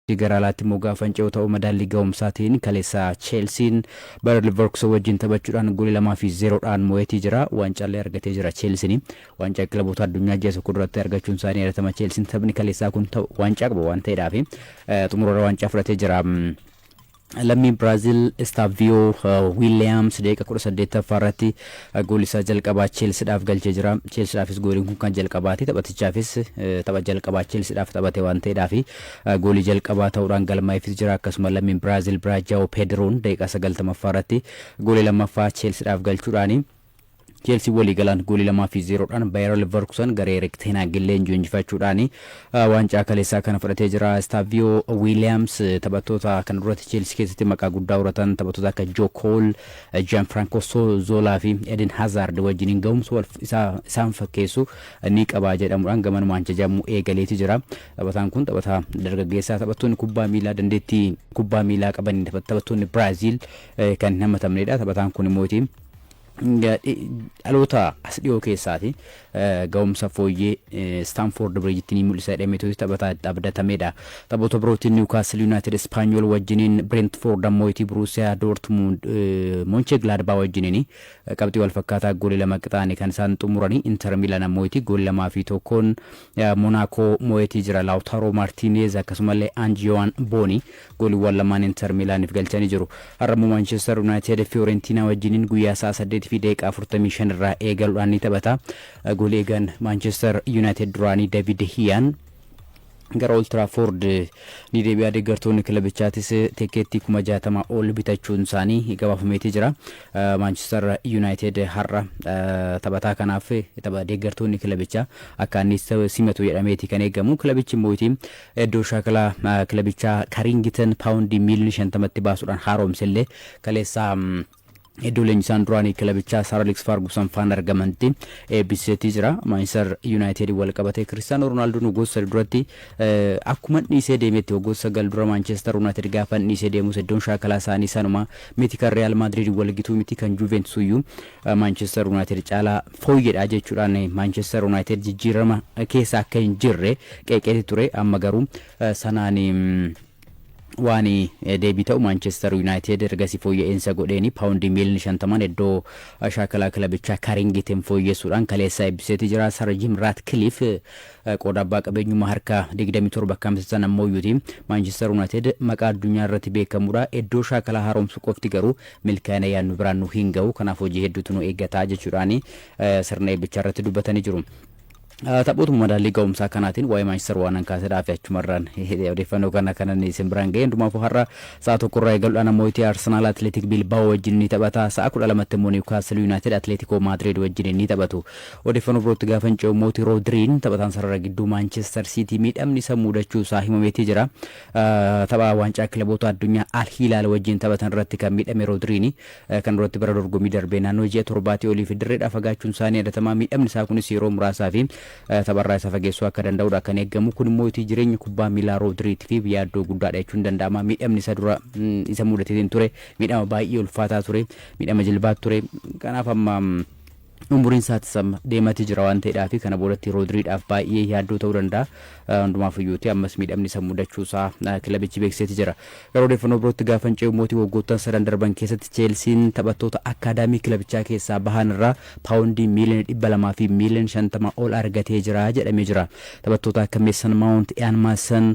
Biyya gara alaatti immoo gaafa hin ce'u ta'u madaallii gahumsaatiin kaleessa Cheelsiin Bayer Liverkusen wajjin taphachuudhaan goolii 2 fi 0 dhaan mo'eetii jira. Waancaallee argatee jira Cheelsiin. Waancaa kilaboota addunyaa ji'a tokko duratti argachuun isaa ni yaadatama Cheelsiin. Taphni kaleessaa kun waancaa qaba waan ta'eedhaafi xumurarra waancaa fudhatee jira. Lammiin Biraazil Estaaviyo Wiiliyaams daqiiqa 18ffaa irratti goolii isaa jalqabaa Cheelsidhaaf galchee jira. Cheelsidhaafis gooliin kun kan jalqabaati. Taphatichaafis tapha jalqabaa Cheelsidhaaf taphate waan ta'eedhaafi goolii jalqabaa ta'uudhaan galmaa'eefis jira. Akkasuma lammiin Biraazil biraa Jaawoo Peediroon daqiiqaa 90ffaa irratti goolii lammaffaa Cheelsidhaaf galchuudhaani. Cheelsiin waliigalaan goolii 2 fi 0 dhaan Bayer Leverkusen garee Erik Ten Hagin leenji'u injifachuudhaan waancaa kaleessaa kana fudhatee jira. Istaaviyoo Wiiliyaams taphattoota kana duratti Cheelsii keessatti maqaa guddaa horatan taphattoota akka Joo Kool, Jaan Firaanko Zoolaa fi Eden Hazaard wajjiniin gahumsa wal isaa isaan fakkeessu ni qaba jedhamuudhaan gamanumaan jajamuu eegaleeti jira. Taphataan kun taphataa dargaggeessaa taphattoonni kubbaa miilaa dandeettii kubbaa miilaa qabaniin taphattoonni Biraaziil kan hin hamatamneedha. Taphataan kun immoo dhaloota as dhiyoo keessaati ga'umsa fooyyee Istaanfoord Biriijitti ni mul'isa jedhameetu taphataa itti abdatameedha. Taphoota birootiin Niwukaastil Yuunaayitid Ispaanyool wajjiniin Bireentfoord ammoo itii Buruusiyaa Doortmuund Monchee Gilaadbaa wajjiniin qabxii wal fakkaataa goolii lama qixaanii kan isaan xumuranii Inter Miilaan ammoo itii goolii lamaa fi tokkoon Monaakoo moo'eetii jira. Laawtaaroo Maartiineez akkasumallee Anjiyowaan Boonii Gooliwwaan lamaan Inter Miilaaniif galchanii jiru. Har'ammoo Maanchester Yunaayitid Fiyoorentiinaa wajjiniin guyyaa sa'a 8:45 irraa eegaluudhaan ni taphata. Goolii eegaan Maanchester Yunaayitid duraanii David De Hiyaan gara Old Trafford ni deebi'a. Deeggartoonni kilabichaatis tikkeettii kuma jaatama ol bitachuun isaanii gabaafameetii jira. Maanchester Yunaayitid har'a taphataa kanaaf tapha deeggartoonni kilabichaa akka inni simatu jedhameeti kan eegamu. Kilabichi immoo Iddoo shaakala kilabichaa Kariingitan paawundii miiliyoona 50tti baasuudhaan haaromse illee kaleessa iddoo leenjisaan duraanii kilabichaa Sar Aleeks Faargusan faan argamantti eebbiseetii jira. Maanchistar Yuunaayitediin wal qabatee Kiristaanoo Roonaaldoon waggoota sadi duratti akkuman dhiisee deemetti waggoota sagal dura Maanchistar Yuunaayitid gaafan dhiisee deemus iddoon shaakalaa isaanii sanuma miti kan Riyaal Maadiriid wal gituu miti kan Juuveentus iyyuu Maanchester Yunaayitid caalaa fooyyedha jechuudhaan Maanchester Yunaayitid jijjiirama keessa akka hin jirre qeeqeeti ture amma garuu sanaan waan deebii ta'u Maanchester Yunaayitid ergasii fooyya'insa godheeni paawundii miiliyoona shantamaan iddoo shaakalaa kilabichaa Karingitiin fooyyessuudhaan kaleessa eebbiseeti jira. Sar Jim Raatkiliif qooda abbaa qabeenyummaa harka 27 akka hamsisan ammoo iyyuti Maanchester Yunaayitid maqaa addunyaa irratti beekamudha. Iddoo shaakalaa haaromsuu qofti garuu milkaa'ina yaadnu biraan nu hin ga'u kanaaf hojii hedduutu nu eeggata jechuudhaan sirna eebbichaa irratti dubbatanii jiru. Taphootuma madaallii ga'umsaa kanaatiin waa'ee Maanchister waanan kaasedhaa fi achumarraan odeeffannoo kana kanan isin biraan ga'e hundumaafuu har'a sa'a tokkorraa eegaluudhaan ammoo itti Arsenaal Atleetik Bilbaa'oo wajjin ni taphata sa'a kudha lamatti immoo Niwkaastil Yuunaayitid Atleetikoo Maadriid wajjin ni taphatu odeeffannoo birootti gaafa hin ce'u mooti Roodiriin taphataan sarara gidduu Maanchister Siitii miidhamni isa muudachuu isaa himameetii jira Tapha Waancaa Kilaboota Addunyaa Al Hilaal wajjin taphatan irratti kan miidhame Roodriini kan duratti bara dorgommii darbee naannoo ji'a torbaatii oliif dirreedhaa fagaachuun isaa ni yaadatamaa miidhamni isaa kunis yeroo muraasaa fi tapharraa isa fageessuu akka danda'udha kan eegamu kun immoo itii jireenya kubbaa miilaa Roodriitiif yaaddoo guddaadha jechuun ni danda'ama miidhamni isa dura isa mudateetiin ture miidhama baay'ee ulfaataa ture miidhama jilbaat ture kanaaf amma Umuriin isaatis amma deemaati jira waan ta'eedhaafi kana boodatti Roodriidhaaf baay'ee yaaddoo ta'uu danda'a. Hundumaafuyyuuti ammas miidhamni isa mudachuu isaa kilabichi beeksiseeti jira. Gara odeeffannoo birootti gaafan ce'u immooti waggoottan sadan darban keessatti Cheelsiin taphattoota akkaadaamii kilabichaa keessaa bahan irraa paawondii miiliyoona 200 fi miiliyoona 50 ol argatee jira jedhamee jira. Taphattoota akka Meesan Maawunt, Iyaan Maasan,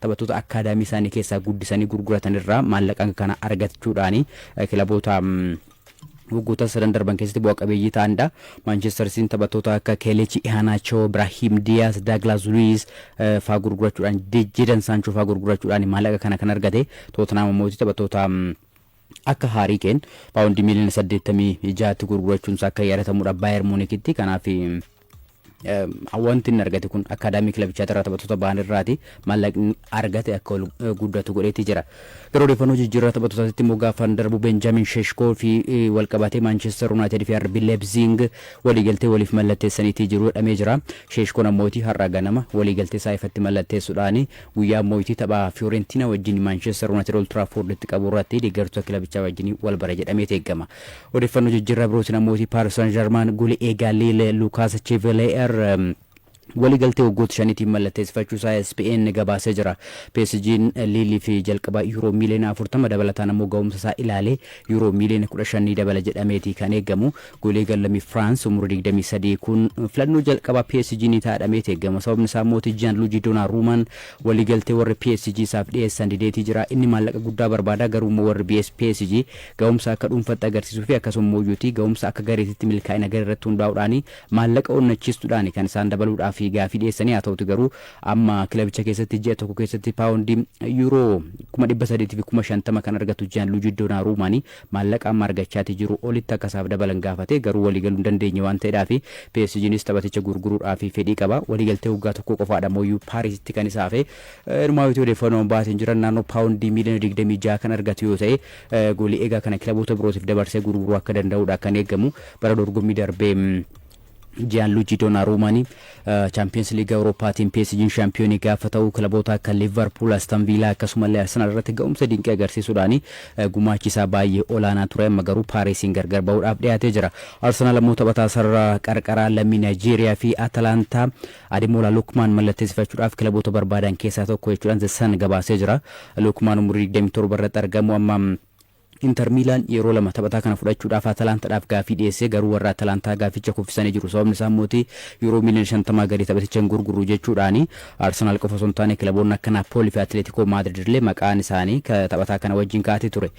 Taphattoota akkaadaamii isaanii keessaa guddisanii gurguratan irraa maallaqa hanga kana argachuudhaan kilaboota waggoota sadan darban keessatti bu'a qabeeyyii ta'anidha. Maanchestar Siitiin taphattoota akka Keelechi Ihaanaachoo, Biraahiim Diyaas, Daaglaas Luwiis faa gurgurachuudhaan, Jeedan Saanchoo faa gurgurachuudhaan maallaqa kana kan argate. Tootenaam ammoo taphattoota Akka Haarii Keen paawundii miiliyoona saddeettamii ja'atti gurgurachuunsaa akka yaadatamudha Baayer Muunikitti. Kanaaf wanti inni argate kun akkaadaamii kilabichaatti irraa taphattoota ba'an irraati maallaqni argate akka ol guddatu godheetti jira. Gara odeeffannoo jijjiirraa taphattootaatti immoo gaafa darbu Benjaamin Sheshkoo fi wal qabatee Maanchester Yuunaayitid fi RB Leipzig waliigaltee waliif mallatteessaniitii jiru jedhamee jira. Sheshkoon ammooti har'a ganama waliigaltee isaa ifatti mallatteessuudhaan Guyyaa Mooyitii tapha Fiyoorentina wajjin Maanchistar Unaayitid Old Tiraafoorditti qabu irratti deeggartoota kilabichaa wajjin wal bara jedhameeti eegama. Odeeffannoo jijjiirraa birootiin ammootii Paaris Saan Jarmaan goli eegaa Liil Luukaas Cheveleer walii galtee waggoota shaniitiin mallatteessifachuu isaa ESPN gabaasee jira. PSG'n Liiliif jalqaba Yuuroo miiliyoona 40 dabalataan ammoo ga'umsa isaa ilaalee Yuuroo miiliyoona 15 ni dabala jedhameeti kan eegamu. Goleegaan lammii Firaans umurii 23 kun filannoo jalqabaa PSG ni ta'a jedhameeti eegama. Sababni isaa immoo Jiyaanluujii Doonaaruumaan waliigaltee warri PSG isaaf dhiyeessan dideetii jira. Inni maallaqa guddaa barbaada garuu immoo warri BS PSG gahumsa akka dhuunfatti agarsiisuu fi akkasuma immoo iyyuuti gahumsa akka gareetitti milkaa'ina garee irratti hundaa'uudhaan maallaqa onnachiistuudhaan kan isaan dabaluudhaaf gaafii dhiyeessanii haa ta'uuti garuu amma kilabicha keessatti ji'a tokko keessatti paawundii yuuroo 300 fi 50 kan argatu Jiyaanluujii Doonaaruumaan maallaqa amma argachaati jiruu olitti akka isaaf dabalan gaafatee garuu walii galuu hin dandeenye waan ta'edhaafi PSGnis taphaticha gurguruudhaafi fedhii qaba. Waliigaltee waggaa tokkoo qofaadha mooyyuu Paarisitti kan isa hafe. Inumaayyuuti odeeffannoon baasen jiran naannoo paawundii miiliyoona 26 kan argatu yoo ta'e goolii eegaa kana kilaboota birootiif dabarsee gurguruu akka danda'uudha kan eegamu. Bara dorgommii darbee Jiyaanluujii Doonaaruumaan Chaampiyoonsi Liiga Awurooppaatiin PSG'n shaampiyoonii gaafa ta'u kilaboota akka Liivarpuul, Aston Viilaa akkasumallee Arsenaal irratti ga'umsa dinqii agarsiisuudhaan gumaachi isaa baay'ee olaanaa ture amma garuu Paarisiin gargar ba'uudhaaf dhiyaatee jira. Arsenaal ammoo taphataa sarara qarqaraa lammii Naayijeeriyaa fi Atalaantaa Ademola Lukmaan mallatteessifachuudhaaf kilaboota barbaadan keessaa tokko jechuudhaan The Sun gabaasee jira. Lukmaan umurii 27 irratti argamu amma Inter Miilaan yeroo lama taphataa kana fudhachuudhaaf Atalaantadhaaf gaaffii dhiyeesse, garuu warri Atalaantaa gaafficha kuffisanii jiru. Sababni isaa immoo Yuuroo miiliyoona shantamaa gadi taphaticha hin gurgurru jechuudhaani. Arsenaal qofa osoo hin taane kilaboonni akka Naappoolii fi Atileetikoo Maadriid illee maqaan isaanii taphataa kana wajjin kaa'atee ture.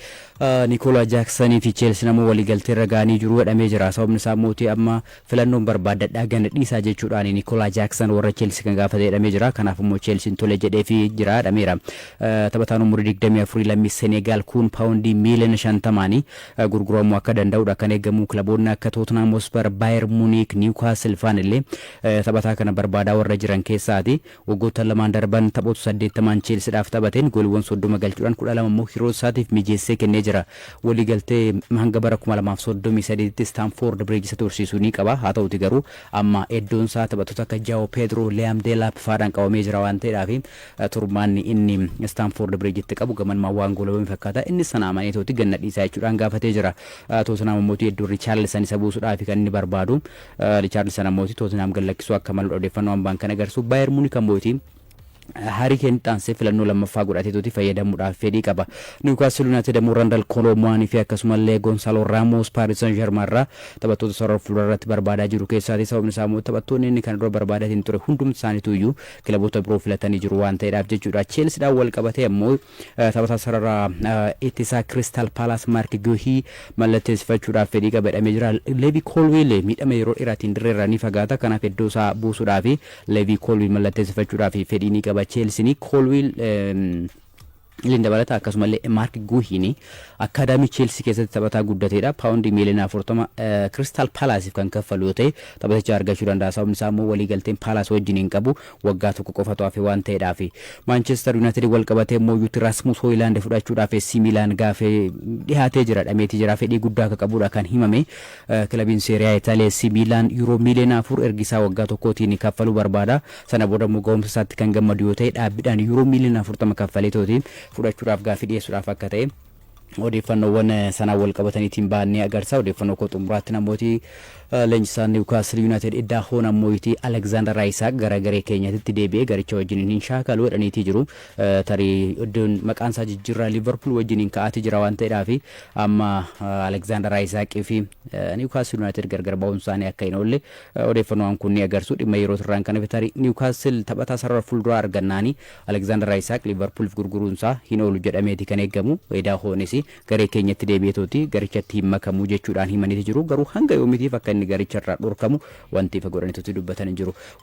Nikoolaa Jaaksanii fi Cheelsiin ammoo waliigalteerra ga'anii jiru jedhamee jira. Sababni isaa immoo amma Filannoon barbaaddadhaa gana dhiisaa jechuudhaan Nikoolaa Jaaksan warra Cheelsii kan gaafate jedhamee jira. Kanaaf immoo Cheelsiin tole jedheefii jira jedhameera. Taphataan umurii digdamii afurii lammii Seneegaal kuun paawundii miiliyoona shantamaan gurguramuu akka danda'udha kan eegamu. Kilaboonni akka Tootnaam Hospar, Baayer Muniik, Niwkaasil faan illee taphataa kana barbaadaa warra jiran keessaati. Waggoottan lamaan darban taphoota 80n Cheelsidhaaf taphateen gooliwwan 30 galchuudhaan 12 immoo hiriyootasaatiif mijeessee kennee jira. Waliigaltee hanga bara 2033tti Istaanfoord Biriij isa tursiisu ni qaba. Haa ta'uutii garuu amma eddoonsaa taphattoota akka Jaawo Peedroo, Liyaam Deelaap fa'aadhaan qabamee jira waan ta'eedhaafi turmaanni inni Istaanfoord Biriijitti qabu gamanumaan waan goolabame fakkaata. Innis sana amaneetooti gad na dhiisaa jechuudhaan gaafatee jira. Tootenhaam ammotii eddoon Richaarlisan isa buusudhaafi kan inni barbaadu. Richaarlisan ammooti Tootinhaam gad lakkisuu akka maludha odeeffannoo ambaan kan agarsu. Baayer Muunik ammooti Haarii Keen itti aansee filannoo lammaffaa godhateetuuti fayyadamuudhaaf fedhii qaba. Niwukaastil Yuunaayitid ammoo Randal Kooloo Muwaanii fi akkasumallee Gonsaaloo Raamoos Paaris San Jarmaa irraa taphattoota sarara fuulduraa irratti barbaadaa jiru keessaati. Sababni isaa ammoo taphattoonni inni kana dura barbaadatiin ture hundumti isaaniitu iyyuu kilaboota biroo filatanii jiru waan ta'eedhaaf jechuudha. Cheelsidhaan wal qabatee ammoo Taphataa sarara ittisaa Kiristaal Paalaas Maark Guuhii mallatteessifachuudhaaf fedhii qaba jedhamee jira. Leevii Koolwiil miidhama yeroo dheeraatiin dirreerraa ni fagaata. Kanaaf iddoo isaa buusuudhaaf Leevii Koolwiil mallatteessifachuudhaaf fedhii ni qaba Cheelsiin. Koolwiil Liin dabalata akkasumallee Maark Guuhiin akkaadaamii Cheelsii keessatti taphataa guddateedha. Paawundii miiliyoona afurtama Kiristaal Paalaasiif kan kaffalu yoo ta'e taphaticha argachuu danda'a. Sababni isaa immoo waliigalteen Paalaas wajjin hin qabu. Waggaa tokko qofatu hafe waan ta'edhaafi. Maanchester Yunaayitidin walqabatee MOUtti Rasmus Hoyilaand fudhachuudhaaf AC Miilaan gaafee dhihaatee jira, dhameetii jira. Fedhii guddaa akka qabudha kan himame. Kilabiin Serie A Italia AC Miilaan Yuuroo miiliyoona afur ergi isaa waggaa tokkootiin kaffaluu barbaada. Sana boodammoo gahumsa isaatti kan gammadu yoo ta'e dhaabbidhaan Yuuroo miiliyoona afurtama kaffaleetooti fudhachuudhaaf gaafii dhiyeessuudhaaf akka ta'e. odeeffannoowwan sanaan walqabataniitiin ba'an ni agarsa. Odeeffannoo koo xumuraatti namooti leenjisaan Niwukaastil Yuunaayitid Iddaa Hoonaan Mooyitii Aleksaandar Ayisaak gara garee keenyatitti deebi'ee garicha wajjiniin hin shaakalu jedhaniitii jiru. Tarii iddoon maqaan isaa jijjiirraa Liivarpuul wajjiniin ka'aatii jira waan ta'edhaafi amma Aleksaandar Ayisaaqii fi Niwukaastil Yuunaayitid gargar ba'uun isaanii akka hin oolle odeeffannoowwan kun ni agarsu. Dhimma yerootirraan kan hafe tarii Niwukaastil taphataa sarara fuulduraa argannaanii Alekzaandar Ayisaak Liivarpuulif gurguruunsaa hin oolu jedhameeti kan eegamu. Edaahoonis garee keenyatti deebi'etooti garichatti hin makamu jechuudhaan himaniiti jiru. Garuu hanga yoomitiif akka inni garicharraa dhorkamu wanti ifa godhanitooti dubbatan hin jiru.